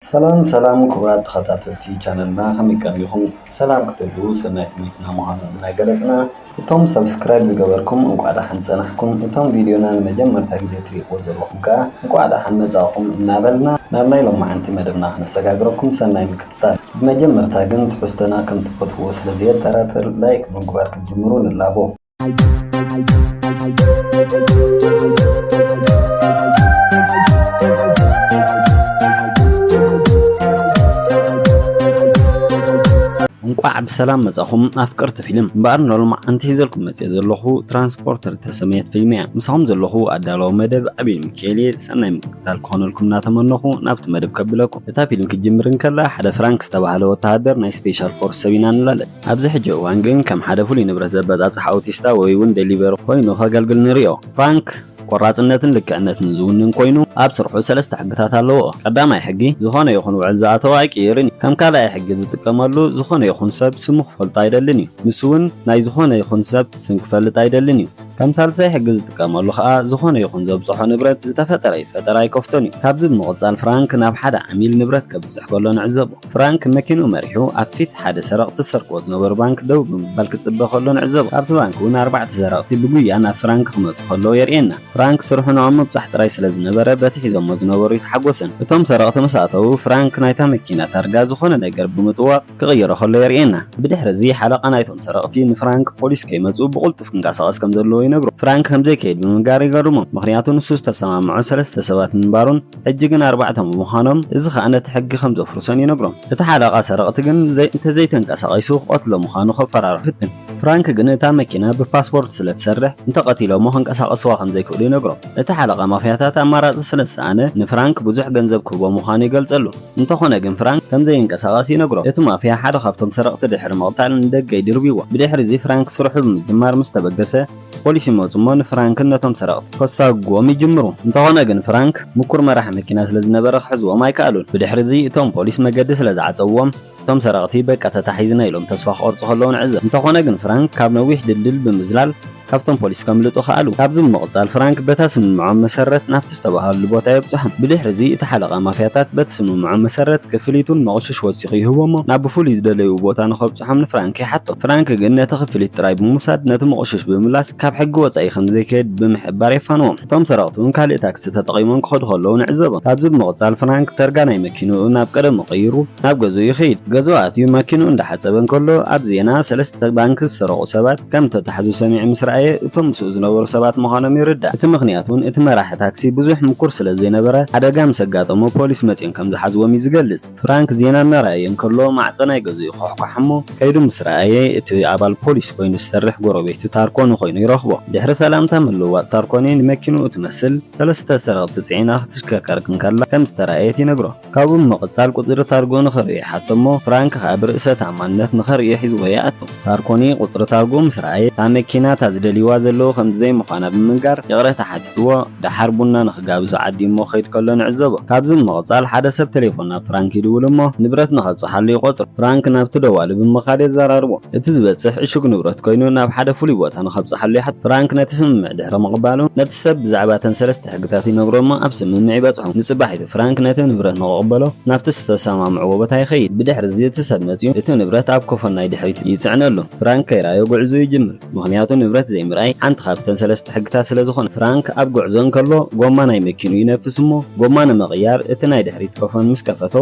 ሰላም ሰላም ክቡራት ተኸታተልቲ ቻነልና ከመይ ቀኒኹም ሰላም ክትህልዉ ሰናይ ትምኒትና ምዃኑ እናገለፅና እቶም ሰብስክራይብ ዝገበርኩም እንኳዕ ደሓን ፀናሕኩም እቶም ቪድዮና ንመጀመርታ ግዜ ትሪእዎ ዘለኹም ከዓ እንኳዕ ደሓን መፃእኹም እናበልና ናብ ናይ ሎማዓንቲ መደብና ክነሰጋግረኩም ሰናይ ምክትታል ብመጀመርታ ግን ትሕዝቶና ከምትፈትዉዎ ስለዘየጠራጥር ላይክ ብምግባር ክትጅምሩ ንላቦ። እንቋዕ ብሰላም መጻኹም ኣፍቀርቲ ፊልም እምበኣር ንሎማዓንቲ ሒዘልኩም መጽየ ዘለኹ ትራንስፖርተር ተሰመየት ፊልም እያ ምሳኹም ዘለኹ ኣዳለዊ መደብ ኣቤል ሚካኤል እየ ሰናይ ምክትታል ክኾነልኩም እናተመነኹ ናብቲ መደብ ከብለኩም እታ ፊልም ክትጅምር እንከላ ሓደ ፍራንክ ዝተባህለ ወተሃደር ናይ ስፔሻል ፎርስ ሰብ ኢና ንላለን ኣብዚ ሕጂ እዋን ግን ከም ሓደ ፍሉይ ንብረት ዘበጻጽሕ ኣውቲስታ ወይ'ውን ደሊቨሪ ኮይኑ ከገልግል ንርእዮ። ፍራንክ ቆራጽነትን ልክዕነትን ዝውንን ኮይኑ፣ ኣብ ስርሑ ሰለስተ ሕግታት ኣለዎ። ቀዳማይ ሕጊ፣ ዝኾነ ይኹን ውዕል ዝኣተወ ኣይቅይርን እዩ። ከም ካልኣይ ሕጊ ዝጥቀመሉ፣ ዝኾነ ይኹን ሰብ ስሙ ክፈልጦ ኣይደልን እዩ። ንሱ'ውን ናይ ዝኾነ ይኹን ሰብ ስም ክፈልጥ ኣይደልን እዩ። ከም ሳልሳይ ሕጊ ዝጥቀመሉ ከኣ፣ ዝኾነ ይኹን ዘብጽሖ ንብረት ዝተፈጠረ ይፈጠር ኣይከፍቶን እዩ። ካብዚ ብምቕጻል ፍራንክ ናብ ሓደ ዓሚል ንብረት ከብጽሕ ከሎ ንዕዘቦ። ፍራንክ መኪንኡ መሪሑ ኣብ ፊት ሓደ ሰረቕቲ ዝሰርቅዎ ዝነበሩ ባንክ ደው ብምባል ክጽበ ከሎ ንዕዘቦ። ካብቲ ባንክ እውን ኣርባዕተ ሰረቕቲ ብጉያ ናብ ፍራንክ ክመጹ ከለዉ የርእየና። ፍራንክ ስርሑ ንኦም ምብጻሕ ጥራይ ስለ ዝነበረ በቲ ሒዞሞ ዝነበሩ ኣይተሓጎሰን። እቶም ሰረቕቲ ምስ ኣተዉ ፍራንክ ናይታ መኪና ታርጋ ዝኾነ ነገር ብምጥዋቕ ክቕይሮ ከሎ የርእየና። ብድሕሪ እዚ ሓለቓ ናይቶም ሰረቕቲ ንፍራንክ ፖሊስ ከይመጹ ብቕልጡፍ ክንቀሳቐስ ከም ዘለዎ ይነግሮ። ፍራንክ ከም ዘይከይድ ብምንጋር ይገርሞም። ምኽንያቱ ንሱ ዝተሰማምዖ ሰለስተ ሰባት ምንባሩን፣ ሕጂ ግን ኣርባዕተ ብምዃኖም እዚ ከኣ ነቲ ሕጊ ከም ዘፍርሶን ይነግሮም። እቲ ሓለቓ ሰረቕቲ ግን እንተ ዘይተንቀሳቒሱ ክቐትሎ ምዃኑ ከፈራርሖ ይፍትን። ፍራንክ ግን እታ መኪና ብፓስፖርት ስለ ትሰርሕ እንተ ቀቲሎሞ ከንቀሳቕስዋ ከም ዘይክእሉ ይነግሮም። እቲ ሓለቓ ማፍያታት ኣማራጺ ስለ ዝሰኣነ ንፍራንክ ብዙሕ ገንዘብ ክህቦ ምዃኑ ይገልጸሉ። እንተዀነ ግን ፍራንክ ከም ዘይንቀሳቐስ ይነግሮ። እቲ ማፍያ ሓደ ካብቶም ሰረቕቲ ድሕሪ ምቕታል ንደገ ይድርብይዎ። ብድሕርዚ ፍራንክ ስርሑ ብምጅማር ምስ ተበገሰ፣ ፖሊስ ይመጹ እሞ ንፍራንክን ነቶም ሰረቕቲ ከሳጉጉዎም ይጅምሩ። እንተኾነ ግን ፍራንክ ምኩር መራሒ መኪና ስለ ዝነበረ ክሕዝዎም ኣይከኣሉን። ብድሕሪ'ዚ እቶም ፖሊስ መገዲ ስለ ዝዓጸዉዎም እቶም ሰረቕቲ በቃ ተታሒዝና ኢሎም ተስፋ ክቖርጹ ከለዉ ንዕዘብ። እንተኾነ ግን ፍራንክ ካብ ነዊሕ ድልድል ብምዝላል ካብቶም ፖሊስ ከምልጡ ከኣሉ። ካብዚ ብምቕጻል ፍራንክ በታ ስምምዖም መሰረት ናብቲ ዝተባሃለሉ ቦታ የብጽሖም። ብድሕሪ'ዚ እቲ ሓለቓ ማፍያታት በቲ ስምምዖም መሰረት ክፍሊቱን መቑሽሽ ወሲኹ ይህቦሞ ናብ ብፍሉይ ዝደለይዎ ቦታ ንኸብጽሑ። ፍታሖም ንፍራንክ ይሓቶ። ፍራንክ ግን ነቲ ክፍሊት ጥራይ ብምውሳድ ነቲ መቖሽሽ ብምምላስ ካብ ሕጊ ወጻኢ ከም ዘይከይድ ብምሕባር የፋንዎም። እቶም ሰረቕቲ እውን ካልእ ታክሲ ተጠቒሞም ክኸዱ ከለዉ ንዕዘቦም። ካብዚ ብምቕጻል ፍራንክ ተርጋ ናይ መኪንኡ ናብ ቀደሙ ቀይሩ ናብ ገዝኡ ይኸይድ። ገዝኡ ኣትዩ ማኪንኡ እንዳሓጸበ እንከሎ ኣብ ዜና ሰለስተ ባንክ ዝሰረቑ ሰባት ከም እተታሕዙ ሰሚዑ ምስ ረኣየ እቶም ምስኡ ዝነበሩ ሰባት ምዃኖም ይርዳእ። እቲ ምኽንያት እውን እቲ መራሒ ታክሲ ብዙሕ ምኩር ስለ ዘይነበረ ሓደጋ ምስ ኣጋጠሞ ፖሊስ መጺኦም ከም ዝሓዝዎም እዩ ዝገልጽ። ፍራንክ ዜና እናረኣየ እንከሎ ማዕጸ ናይ ገዝኡ ይዃሕኳሕ እሞ ከይዱ ምስ ረኣየ እቲ ኣባል ፖሊስ ኮይኑ ዝሰርሕ ጎረቤቱ ታርኮኒ ኮይኑ ይረኽቦ። ድሕሪ ሰላምታ ምልውዋጥ ታርኮኒ ንመኪንኡ እትመስል ሰለስተ ሰረቕቲ ጽዒና ክትሽከርከር እንከላ ከም ዝተራእየት ይነግሮ። ካብኡ ብምቕጻል ቁጽሪ ታርግኡ ንኽርእዮ ይሓቶ እሞ ፍራንክ ከኣ ብርእሰ ተኣማንነት ንኸርእዮ ሒዝዎ ይኣቱ። ማርኮኒ ቁጽሪ ታርግኡ ምስ ረኣየ እታ መኪና እታ ዝደልይዋ ዘለዉ ከምዚ ዘይምዃና ብምንጋር ይቕሬታ ሓቲትዎ ደሓር ቡና ንኽጋብዙ ዓዲሞ ክኸይድ ከሎ ንዕዘቦ። ካብዚ ብምቕጻል ሓደ ሰብ ተሌፎን ናብ ፍራንክ ይድውል እሞ ንብረት ንኸብጽሓሉ ይቖጽሮ። ፍራንክ ናብቲ ደዋሊ ብምኻድ የዘራርቦ። እቲ ዝበጽሕ ዕሹግ ንብረት ኮይኑ ናብ ሓደ ፍሉይ ቦታ ንኸብጽሓሉ ይሓቶ። ፍራንክ ነቲ ስምምዕ ድሕሪ ምቕባሉ ነቲ ሰብ ብዛዕባ እተን ሰለስተ እቲ ሕግታት ይነግሮ እሞ ኣብ ስምምዕ ይበጽሑ። ንጽባሒቱ ፍራንክ ነቲ ንብረት ንኽቕበሎ ናብቲ ዝተሰማምዕዎ ቦታ ይኸይድ። ብድሕርዚ እቲ ሰብ መጺኡ እቲ ንብረት ኣብ ኮፎን ናይ ድሕሪት ይጽዕነሉ። ፍራንክ ከይረኣዮ ጉዕዝኡ ይጅምር። ምኽንያቱ ንብረት ዘይምርኣይ ሓንቲ ካብተን ሰለስተ ሕግታት ስለ ዝኾነት። ፍራንክ ኣብ ጉዕዞ እንከሎ ጎማ ናይ መኪንኡ ይነፍስ እሞ ጎማ ንምቕያር እቲ ናይ ድሕሪት ኮፎን ምስ ከፈቶ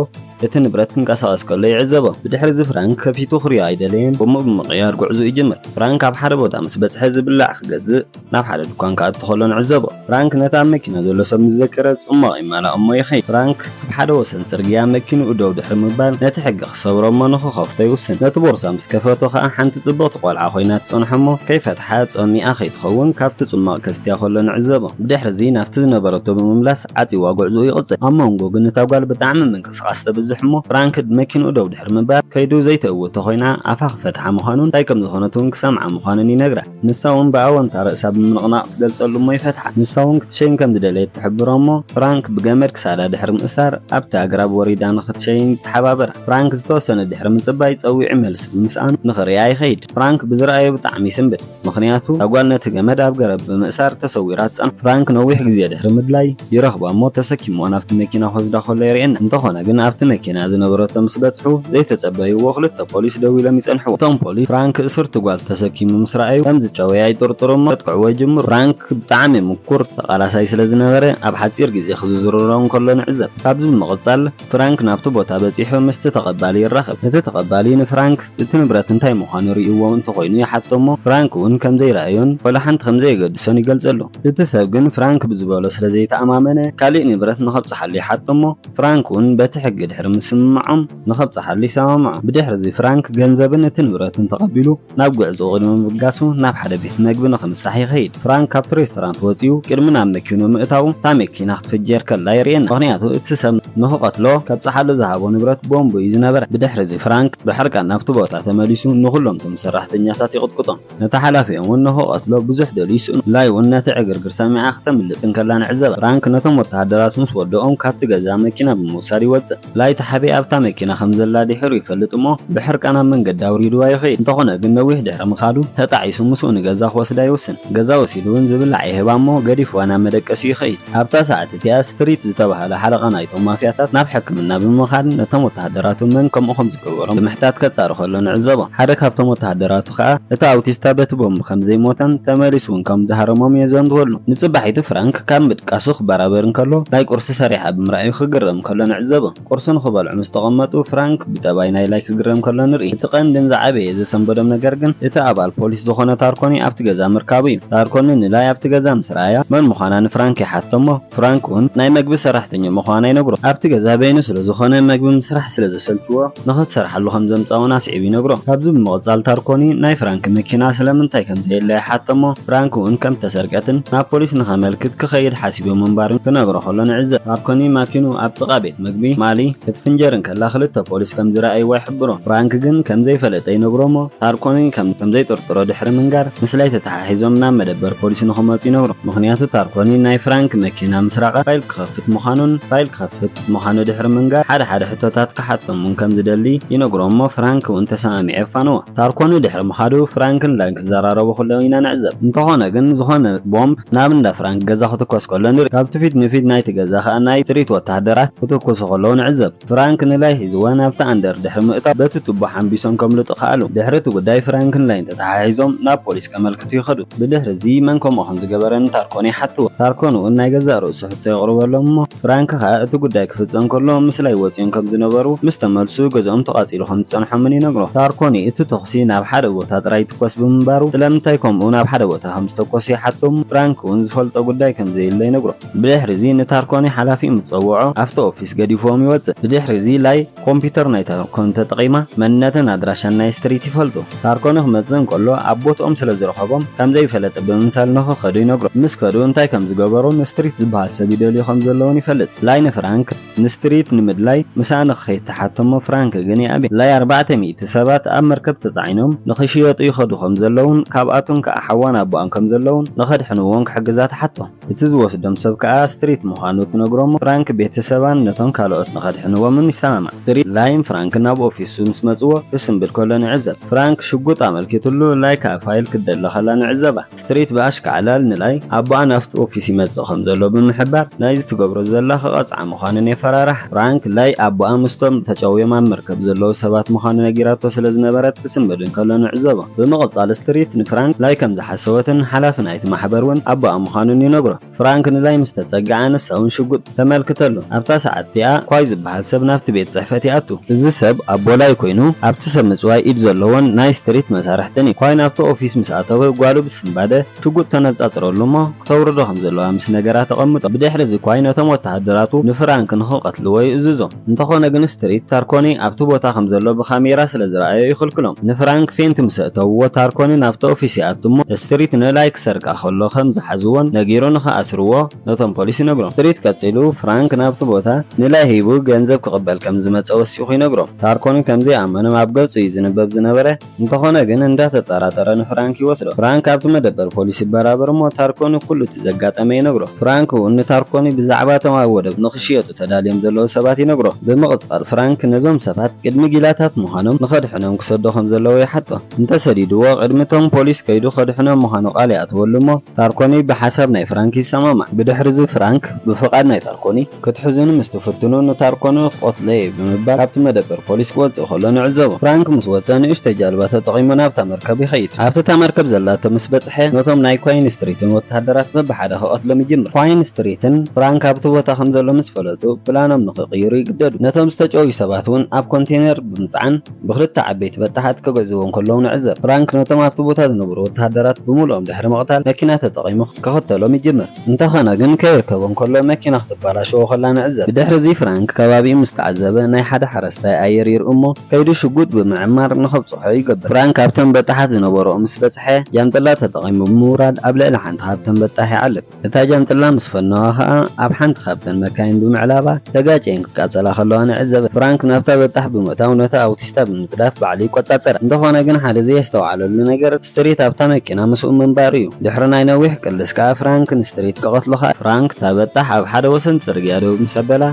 እቲ ንብረት ክንቀሳቐስ ከሎ ይዕዘቦ። ብድሕርዚ ፍራንክ ከፊቱ ክሪኦ ኣይደለየን። ጎምኡ ብምቕያር ጉዕዝኡ ይጅምር። ፍራንክ ኣብ ሓደ ቦታ ምስ በጽሐ ዝብላዕ ክገዝእ። ናብ ሓደ ድኳን ክኣቱ ከሎ ንዕዘቦ። ፍራንክ ነቲ ኣብ መኪና ዘሎ ሰብ ምስ ዘከረ ጽሟቕ ይማላእ እሞ ይኸይድ። ፍራንክ ኣብ ሓደ ወሰን ጽርግያ መኪንኡ ደው ድሕሪ ምባል ነቲ ሕጊ ክሰብሮ እሞ ንኽኸፍቶ ይውስን። ነቲ ቦርሳ ምስ ከፈቶ ከኣ ሓንቲ ጽብቕቲ ቆልዓ ኮይና ትጸንሖ እሞ ከይፈትሓ ጸሚኣ ከይትኸውን ካብቲ ጽሟቕ ከስትያ ከሎ ንዕዘቦ። ብድሕርዚ ናብቲ ዝነበረቶ ብምምላስ ዓጽዩዋ ጉዕዝኡ ይቕጽል። ኣብ መንጎ ግን እታ ጓል ብጣዕሚ ምንቅስቓስ ተብዝሕ እሞ ፍራንክ መኪንኡ ደው ድሕሪ ምባል ከይዱ ዘይትእውቶ ኮይና ኣፋ ክፈትሓ ምዃኑን እንታይ ከምዝኾነት'ውን ክሰምዓ ምዃኑን ይነግራ። ንሳ ውን ብኣወንታ ርእሳ ብምንቕናቕ ትገልጸሉ እሞ ይፈትሓ። ንሳ ውን ክትሸይን ከም ዝደለየት ትሕብሮ እሞ፣ ፍራንክ ብገመድ ክሳዳ ድሕሪ ምእሳር ኣብቲ ኣግራብ ወሪዳ ንኽትሸይን ይተሓባበራ። ፍራንክ ዝተወሰነ ድሕሪ ምጽባይ ጸዊዑ መልሲ ብምስኣኑ ንኽርእያ ይኸይድ። ፍራንክ ብዝረኣዮ ብጣዕሚ ይስንብድ። ምኽንያቱ እታ ጓል ነቲ ገመድ ኣብ ገረብ ብምእሳር ተሰዊራ ትጸንሖ። ፍራንክ ነዊሕ ግዜ ድሕሪ ምድላይ ይረኽባ እሞ ተሰኪምዎ ናብቲ መኪና ክወስዳ ከሎ የርእየና። እንተኾነ ግን ኣብቲ መኪና ዝነበረቶ ምስ በጽሑ ዘይተጸበይዎ ክልተ ፖሊስ ደው ኢሎም ይጸንሕዎ። እቶም ፖሊስ ፍራንክ እሱርቲ ጓል ተሰኪሙ ምስ ረኣዩ ከም ዝጨወያ ይጥርጥሩ እሞ ከጥቅዕዎ ይጅምሩ። ፍራንክ ብጣዕሚ ምኩር ተቓላሳይ ስለ ዝነበረ ኣብ ሓጺር ግዜ ክዝዝርሮ እንከሎ ንዕዘብ። ካብዚ ብምቕጻል። ፍራንክ ናብቲ ቦታ በጺሑ ምስቲ ተቐባሊ ይራኸብ። እቲ ተቐባሊ ንፍራንክ እቲ ንብረት እንታይ ምዃኑ ርእይዎ እንተኾይኑ ይሓቶ እሞ ፍራንክ እውን ከም ዘይረኣዮን ዋላ ሓንቲ ከም ዘየገድሶን ይገልጸሉ። እቲ ሰብ ግን ፍራንክ ብዝበሎ ስለ ዘይተኣማመነ ካልእ ንብረት ንኸብጽሓሉ ይሓቶ እሞ ፍራንክ እውን በቲ ሕጊ ድሕሪ ምስምማዖም ንኸብጽሓሉ ይሰማምዖ። ብድሕርዚ ፍራንክ ገንዘብን እቲ ንብረትን ተቐቢሉ ናብ ጉዕዞኡ ቅድሚ ምብጋሱ ናብ ሓደ ቤት መግቢ ንኽምሳሕ ይኸይድ። ፍራንክ ካብቲ ሬስቶራንት ወጺኡ ቅድሚ ናብ መኪኑ ምእታዉ እታ መኪና ክትፍጀር ከላ የርእየና። ምኽንያቱ እቲ ሰብ ንኽቐትሎ ከብጽሓሉ ዝሃቦ ንብረት ቦምብ እዩ ዝነበረ። ብድሕሪ'ዚ ፍራንክ ብሕርቃን ናብቲ ቦታ ተመሊሱ ንኹሎም እቶም ሰራሕተኛታት ይቕጥቅጦም። ነቲ ሓላፊኦም ውን ንኽቐትሎ ብዙሕ ደልዩ ይስእኖ። ላይ ውን ነቲ ዕግርግር ሰሚዓ ክተምልጥ እንከላ ንዕዘባ። ፍራንክ ነቶም ወተሃደራት ምስ ወደኦም ካብቲ ገዛ መኪና ብምውሳድ ይወጽእ። ላይታ ሓቤ ኣብታ መኪና ከም ዘላ ድሒሩ ይፈልጥ እሞ ብሕርቃን ኣብ መንገዲ ኣውሪዱዋ ይኸይድ። እንተኾነ ግን ነዊሕ ድሕሪ ምኻዱ ተጣዒሱ ምስኡ ንገዛ ክወስዳ ይውስን። ገዛ ወሲዱ እውን ዝብላዕ ይህባ እሞ ገዲፉዋ ናብ መደቀሲኡ ይኸይድ። ኣብታ ሰዓት እቲኣ ስትሪት ዝተባህለ ሓለቓ ናይቶም ማፍያታት ናብ ሕክምና ብምኻድ ነቶም ወተሃደራቱ መን ከምኡ ከም ዝገበሮም ብምሕታት ከጻሪ ከሎ ንዕዘቦ። ሓደ ካብቶም ወተሃደራቱ ከኣ እቲ ኣውቲስታ በቲ ቦምብ ከም ዘይሞተን ተመሊሱ እውን ከም ዝሃረሞም የዘንትወሉ። ንጽባሒቱ ፍራንክ ካብ ምድቃሱ ክበራበር እንከሎ ናይ ቁርሲ ሰሪሓ ብምርኣዩ ክግረም። ከሎ ንዕዘቦ። ቁርሲ ንኽበልዑ ምስ ተቐመጡ፣ ፍራንክ ብጠባይ ናይ ላይ ክግረም ከሎ ንርኢ። እቲ ቀንድን ዝዓበየ ዘሰንበዶም ነገር ግን፣ እቲ ኣባል ፖሊስ ዝኾነ ታርኮኒ ኣብቲ ገዛ ምርካቡ'ዩ። ታርኮኒ ንላይ ኣብቲ ገዛ ምስ ረኣያ፣ መን ምዃና ንፍራንክ ይሓትቶ'ሞ፣ ፍራንክ'ውን ናይ መግቢ ሰራሕተኞ ምዃና ይነግሮ። ኣብቲ ገዛ በይኑ ስለ ዝኾነ፣ መግቢ ምስራሕ ስለ ዘሰልችዎ፣ ንኽትሰርሓሉ ከም ዘምጻ'ውን ኣስዒቡ ይነግሮ። ካብዚ ብምቕጻል ታርኮኒ ናይ ፍራንክ መኪና ስለምንታይ ከም ዘየለ ይሓተ'ሞ ፍራንክ'ውን ከም እተሰርቀትን ናብ ፖሊስ ንኸመልክት ክኸይድ ሓሲበ ምንባሩን ክነግሮ ከሎ ንዕዘብ። ታርኮኒ ማኪንኡ ኣብ ጥቓ ቤት መግቢ ማሊ ክትፍንጀር እንከላ ክልተ ፖሊስ ከም ዝረኣይዋ ይሕብሮ። ፍራንክ ግን ከም ዘይፈለጠ ይነግሮ'ሞ ታርኮኒ ከም ዘይጥርጥሮ ድሕሪ ምንጋር ምስላይ ተተሓሒዞም ናብ መደበር ፖሊስ ንኽመጹ ይነግሮ። ምኽንያቱ ታርኮኒ ናይ ፍራንክ መኪና ምስራቓ ፋይል ክኸፍት ምዃኑን ፋይል ክኸፍት፣ ምዃኑ ድሕሪ ምንጋር፣ ሓደ ሓደ ሕቶታት ክሓቶም እውን ከም ዝደሊ ይነግሮ እሞ ፍራንክ እውን ተሰማሚዑ የፋንዎ። ታርኮ ንድሕሪ ምኻዱ ፍራንክ ንላይን ክዘራረቡ ከለዉ ኢና ንዕዘብ። እንተኾነ ግን ዝኾነ ቦምብ ናብ እንዳ ፍራንክ ገዛ ክትኮስ ከሎ ንርኢ። ካብቲ ፊት ንፊት ናይቲ ገዛ ከኣ ናይ ስትሪት ወተሃደራት ክትኩሱ ከለዉ ንዕዘብ። ፍራንክ ንላይ ሒዝዋ ናብቲ ኣንደር ድሕሪ ምእታው በቲ ቱቦ ሓንቢሶም ከምልጡ ከኣሉ። ድሕሪ እቲ ጉዳይ ፍራንክ ንላይን ተተሓሒዞም ናብ ፖሊስ ከመልክቱ። ክሓትቱ ይኸዱ። ብድሕሪ እዚ መን ከምኡ ከም ዝገበረ ንታርኮን ይሓትዎ። ታርኮን እውን ናይ ገዛእ ርእሱ ሕቶ የቕርበሎም እሞ ፍራንክ ከኣ እቲ ጉዳይ ክፍጸም ከሎ ምስላይ ወጺኦም ከም ዝነበሩ ምስ ተመልሱ ገዝኦም ተቓጺሉ ከም ዝጸንሖምን ይነግሮ። ታርኮን እቲ ተኹሲ ናብ ሓደ ቦታ ጥራይ ይትኮስ ብምንባሩ ስለምንታይ ከምኡ ናብ ሓደ ቦታ ከም ዝተኮሰ ይሓቶ እሞ ፍራንክ እውን ዝፈልጦ ጉዳይ ከም ዘየለ ይነግሮ። ብድሕሪ እዚ ንታርኮን ሓላፊኡ ምስ ጸውዖ ኣብቲ ኦፊስ ገዲፍዎም ይወጽእ። ብድሕሪ እዚ ላይ። ኮምፒተር ናይ ታርኮን ተጠቒማ መንነትን ኣድራሻን ናይ ስትሪት ይፈልጡ። ታርኮን ክመጽእ እንከሎ ኣብ ቦትኦም ስለ ዝረኸቦም ከም ዘይፈለጠ ብምምሳል ንኽኸዱ ይነግሮም። ምስ ከዱ እንታይ ከም ዝገበሩን ስትሪት ዝበሃል ሰብ ይደልዩ ከም ዘለዉን ይፈልጥ። ላይ ንፍራንክ ንስትሪት ንምድላይ ምሳኣ ንኽኸይድ ትሓቶ'ሞ ፍራንክ ግን ይኣብያ። ላይ ኣርባዕተ ሚእቲ ሰባት ኣብ መርከብ ተጻዒኖም ንኽሽየጡ ይኸዱ ከም ዘለዉን ካብኣቱን ከኣ ሓዋን ኣቡኣን ከም ዘለዉን ንኸድሕንዎን ክሕግዛ ትሓቶ። እቲ ዝወስዶም ሰብ ከኣ ስትሪት ምዃኑ ትነግሮ'ሞ ፍራንክ ቤተሰባን ነቶም ካልኦት ንኸድሕንዎምን ይሰማማዕ። ስትሪት ላይን ፍራንክ ናብ ኦፊሱ ምስ መጽዎ ክስንብድ ከሎ ንዕዘብ። ፍራንክ ሽጉጥ ኣመልኪትሉ ላይ ከኣ ፋይል ክትደሊ ከላ ንዕዘባ። ስትሪት ብኣሽካዕላል ንላይ ኣቦኣ ናብቲ ኦፊስ ይመጽእ ከም ዘሎ ብምሕባር ናይዚ ትገብሮ ዘላ ክቐጽዓ ምዃነን የፈራርሓ። ፍራንክ ለይ ኣቦኣ ምስቶም ተጨውዮም ኣብ መርከብ ዘለዉ ሰባት ምዃኑ ነጊራቶ ስለ ዝነበረት ክስንብድ እንከሎ ንዕዘቦ። ብምቕጻል ስትሪት ንፍራንክ ለይ ከም ዝሓሰወትን ሓላፊ ናይቲ ማሕበር እውን ኣቦኣ ምዃኑን ይነግሮ። ፍራንክ ንለይ ምስ ተጸግዓ ንሳ እውን ሽጉጥ ተመልክተሉ። ኣብታ ሰዓት እቲኣ ኳይ ዝበሃል ሰብ ናብቲ ቤት ጽሕፈት ይኣቱ። እዚ ሰብ ኣቦ ለይ ኰይኑ ኣብቲ ሰብ ምጽዋይ ኢድ ዘለዎን ናይ ስትሪት መሳርሕትን እዩ። ኳይ ናብቲ ኦፊስ ምስ ኣተወ ጓሉ ብስንባደ ሽጉጥ ተነጻጽረሉ እሞ ክተውርዶ ከም ዘለዋ ምስ ነገራ ተቐምጦ። ብድሕሪ እዚ ኳይ ነቶም ወተሃደራቱ ንፍራንክ ንኽቐትልዎ ይእዝዞም። እንተኾነ ግን ስትሪት ታርኮኒ ኣብቲ ቦታ ከም ዘሎ ብካሜራ ስለ ዝረኣዮ ይኽልክሎም። ንፍራንክ ፌንት ምስ ኣእተውዎ ታርኮኒ ናብቲ ኦፊስ ይኣቱ እሞ ስትሪት ንላይ ክሰርቃ ከሎ ከም ዝሓዝዎን ነጊሩ ንኽኣስርዎ ነቶም ፖሊስ ይነግሮም። ስትሪት ቀጺሉ ፍራንክ ናብቲ ቦታ ንላይ ሂቡ ገንዘብ ክቕበል ከም ዝመጸ ወሲኹ ይነግሮም። ታርኮኒ ከም ዘይኣመኖም ኣብ ገጹ እዩ ዝንበብ ዝነበረ። እንተኾነ ግን እንዳተጠራጠረ ንፍራንክ ይወስዶ። ፍራንክ ኣብቲ መደበር ፖሊስ ይበራበር እሞ ታርኮኒ ኩሉ እቲ ዘጋጠመ ይነግሮ። ፍራንክ ውን ንታርኮኒ ብዛዕባ እቶም ኣብ ወደብ ንኽሽየጡ ተዳልዮም ዘለዉ ሰባት ይነግሮ። ብምቕጻል ፍራንክ ነዞም ሰባት ቅድሚ ጊላታት ምዃኖም ንኸድሕኖም ክሰዶ ከም ዘለዎ ይሓቶ። እንተሰዲድዎ ቅድሚ እቶም ፖሊስ ከይዱ ከድሕኖም ምዃኑ ቃል ይኣትወሉ እሞ ታርኮኒ ብሓሳብ ናይ ፍራንክ ይሰማማዕ። ብድሕርዚ ፍራንክ ብፍቓድ ናይ ታርኮኒ ክትሕዙኒ ምስ ትፍትኑ ንታርኮኖ ክቐትሎ እየ ብምባል ካብቲ መደበር ፖሊስ ክወጽእ ከሎ ንዕዘቦ። ፍራንክ ምስ ወጸ ንእሽቶይ ጃልባ ተጠቒሙ ናብታ መርከብ ይኸይድ። ኣብቲ እታ መርከብ ዘላቶ ምስ በጽሐ ነቶም ናይ ኳይን ስትሪትን ወተሃደራት በብሓደ ክቐትሎም ይጅምር። ኳይን ስትሪትን ፍራንክ ኣብቲ ቦታ ከም ዘሎ ምስ ፈለጡ ፕላኖም ንኽቕይሩ ይግደዱ። ነቶም ዝተጨውዩ ሰባት እውን ኣብ ኮንቴነር ብምጽዓን ብኽልተ ዓበይቲ በጣሓት ከገዝዎም ከለዉ ንዕዘብ። ፍራንክ ነቶም ኣብቲ ቦታ ዝነብሩ ወተሃደራት ብምሉኦም ድሕሪ ምቕታል መኪና ተጠቒሙ ክኽተሎም ይጅምር። እንተኾነ ግን ከይርከቦ እንከሎ መኪና ክትበላሸዎ ከላ ንዕዘብ። ብድሕሪ'ዚ ፍራንክ ከባቢኡ ምስ ተዓዘበ ናይ ሓደ ሓረስታይ ኣየር ይርኢ'ሞ ከይዱ ሽጉጥ ብምዕማር ንኸብጽሖ ይገብር። ፍራንክ ኣብቶም በጣሓት ዝነበርኦ ምስ በጽሐ ጃንጥላ ተጠቒሙ ብምውራድ ኣብ ልዕሊ ሓንቲ ካብተን በጣሕ ይዓልብ። እታ ጃንጥላ ምስ ፈነዋ ከኣ ኣብ ሓንቲ ካብተን መካይን ብምዕላባ ተጋጭየን ክቃጸላ ከለዋ ንዕዘብ። ፍራንክ ናብታ በጣሕ ብምእታው ነታ ኣውቲስታ ብምጽዳፍ ባዕሉ ይቆጻጸራ። እንተኾነ ግን ሓደ ዘየስተውዓለሉ ነገር፣ ስትሪት ኣብታ መኪና ምስኡ ምንባሩ'ዩ። ድሕሪ ናይ ነዊሕ ቅልስ ከኣ ፍራንክ ንስትሪት ክቐትሎ'ኸኣለ። ፍራንክ ተበጣሕ ኣብ ሓደ ወሰን ጽርግያ ደው ምስ ኣበላ፣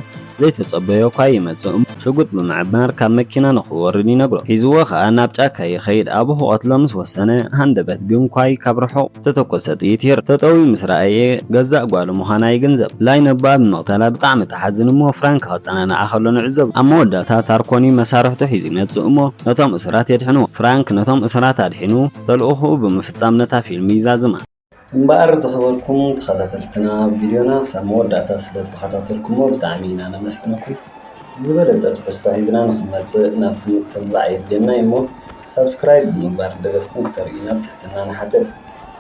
ዘይተጸበዮ'ኳ ይመጽእ እሞ። ሽጉጥ ብምዕማር ካብ መኪና ንኽወርድ ይነግሮ። ሒዝዎ ከኣ ናብ ጫካ ይኸይድ። ኣብኡ ክቐትሎ ምስ ወሰነ ሃንደበት ግን ኳይ ካብ ርሑቕ እተተኮሰ ጥይት ይርእ። ጠጠው'ዩ ምስ ረኣየ ገዛእ ጓሉ ምዃና ይግንዘብ። ላይ ነቦኣ ብምቕታላ ብጣዕሚ ትሓዝን እሞ ፍራንክ ከጸናንዓ ከሎ ንዕዘቦ። ኣብ መወዳእታ ታርኮኒ መሳርሕቱ ሒዙ ይመጽእ እሞ ነቶም። እሱራት የድሕኑ። ፍራንክ ነቶም እሱራት ኣድሒኑ ተልእኾኡ ብምፍጻም ነታ ፊልም ይዛዝማ። እምበኣር ዝኸበርኩም ተኸታተልትና ቪድዮና ክሳብ መወዳእታ ስለ ዝተኸታተልኩሞ ብጣዕሚ ኢና ነመስግነኩም። ብዝበለጸ ትሕዝቶ ሒዝና ንኽንመጽእ ናትኩም ምትብባዕ የድልየና እዩ እሞ ሳብስክራይብ ብምግባር ደገፍኩም ክተርእዩና ብትሕትና ንሓትት።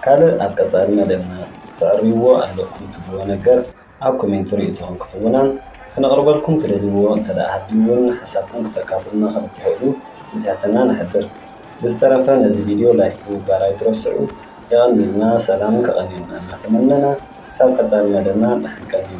ካልእ ኣብ ቀጻሊ መደብና ተዕርይዎ ኣለኩም ትብልዎ ነገር ኣብ ኮሜንቲ ርእይቶኹም ክትህቡናን ክነቕርበልኩም ትደልይዎ እንተድኣ ሃልዩ'ውን ሓሳብኩም ክተካፍሉና ከም እትኽእሉ ብትሕትና ንሕብር። ብዝተረፈ ነዚ ቪድዮ ላይክ ብምግባር ኣይትረስዑ። የቐንየልና ሰላም ከቐንየልና እናተመነና ክሳብ ቀጻሊ መደብና ድሓን ቀንዩ።